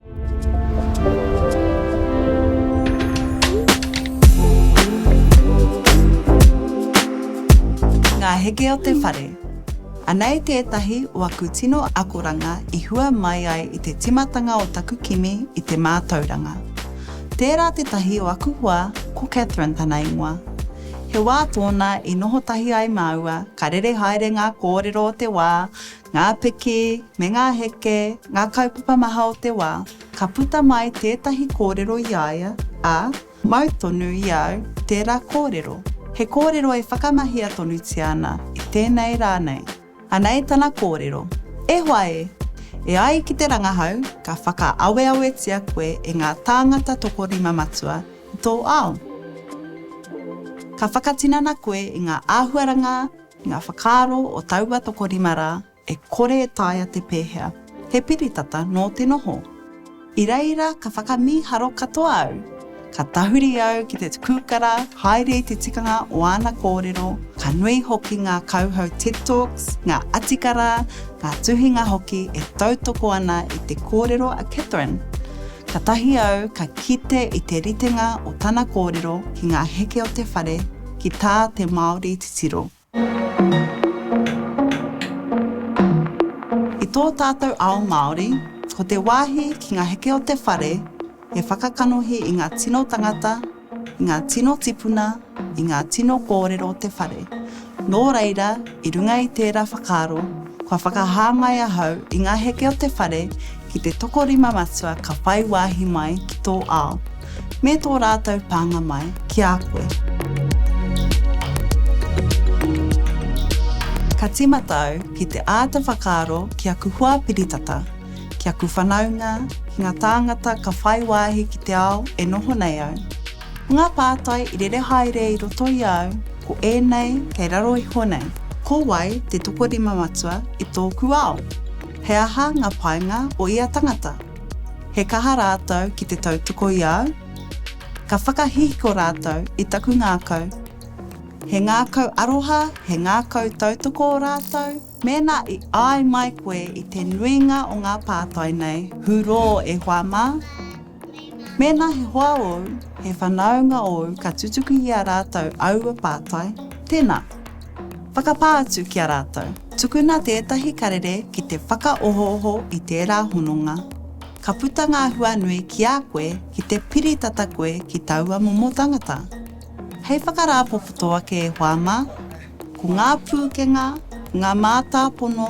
Ngā heke o te whare. Anei tētahi o aku tino akoranga i hua mai ai i te tīmatanga o taku kimi i te mātauranga. Tērā tētahi o aku hoa, ko Catherine tana ingoa. He wā tōna i noho tahi ai māua, ka rere haere ngā kōrero o te wā, ngā piki, me ngā heke, ngā kaupapa maha o te wā, ka puta mai tētahi kōrero i a ia, ā, mau tonu i a au tērā kōrero, he kōrero e whakamahia tonutia ana i tēnei rā nei. Anei tana kōrero, E hoa e! E ai ki te rangahau, ka whakaaweawetia koe e ngā tāngata tokorima matua i tō ao. Ka whakatinana koe i ngā āhuaranga, Ngā whakaaro o taua tokorima rā e kore e taea te pēhea, he piritata nō te noho. I reira ka whakamīharo katoa au, ka tahuri au ki te kūkara haere i te tikanga o āna kōrero, ka nui hoki ngā kauhau Ted Talks, ngā atikara, ngā tuhinga hoki e tautoko ana i te kōrero a Katherine. Katahi au ka kite i te ritenga o tana kōrero ki ngā heke o te whare, ki tā te Māori titiro. I tō tātou ao Māori, ko te wāhi ki ngā heke o te whare he whakakanohi i ngā tino tangata, i ngā tino tipuna, i ngā tino kōrero o te whare. Nō reira, I runga i tērā whakaaro, kua whakahā mai ahau i ngā heke o te whare ki te tokorima matua ka whai wāhi mai ki tō ao, me tō rātou pānga mai ki a koe. Ka tīmata au ki te āta whakaaro ki aku hoa piritata, ki aku whanaunga, ki ngā tāngata ka whai wāhi ki te ao e noho nei au. Ngā pātai i rere haere i roto i a au ko ēnei kei raro iho nei. Ko wai te tokorima matua i tōku ao? He aha ngā painga o ia tangata? He kaha rātou ki te tautoko i a au? Ka whakahihiko rātou i taku ngākau? He ngākau aroha, he ngākau tautoko rātou? Mēnā i āi mai koe i te nuinga o ngā pātai nei, hurō e hoa mā. Mēnā he hoa ōu, he whanaunga ōu ka tutuki i a rātou aua pātai, tēnā, whakapā atu ki a rātou. Tukuna tētahi karere ki te whakaohooho i tērā hononga, ka puta ngā hua nui ki a koe ki te piri tata koe ki taua momo tangata. Hei whakarāpopoto ake e hoa mā, Ko ngā pūkenga, ngā mātāpono,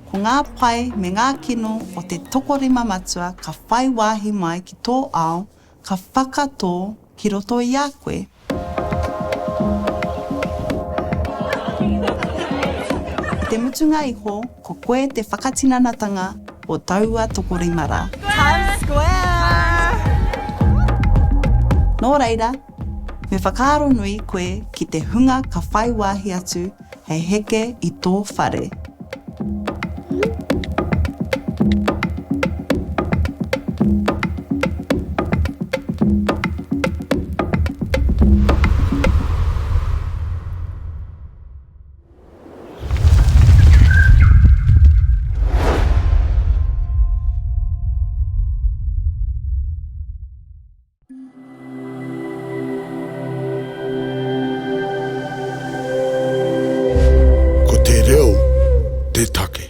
ko ngā pae me ngā kino o te tokorima matua ka whai wāhi mai ki tō ao, ka whakatō ki roto i a koe. I te mutunga iho, ko koe te whakatinanatanga o taua tokorima rā. Times Square! Nō reira, Me whakaaro nui koe ki te hunga ka whai wāhi atu hei heke i tō whare. Ko te reo te take.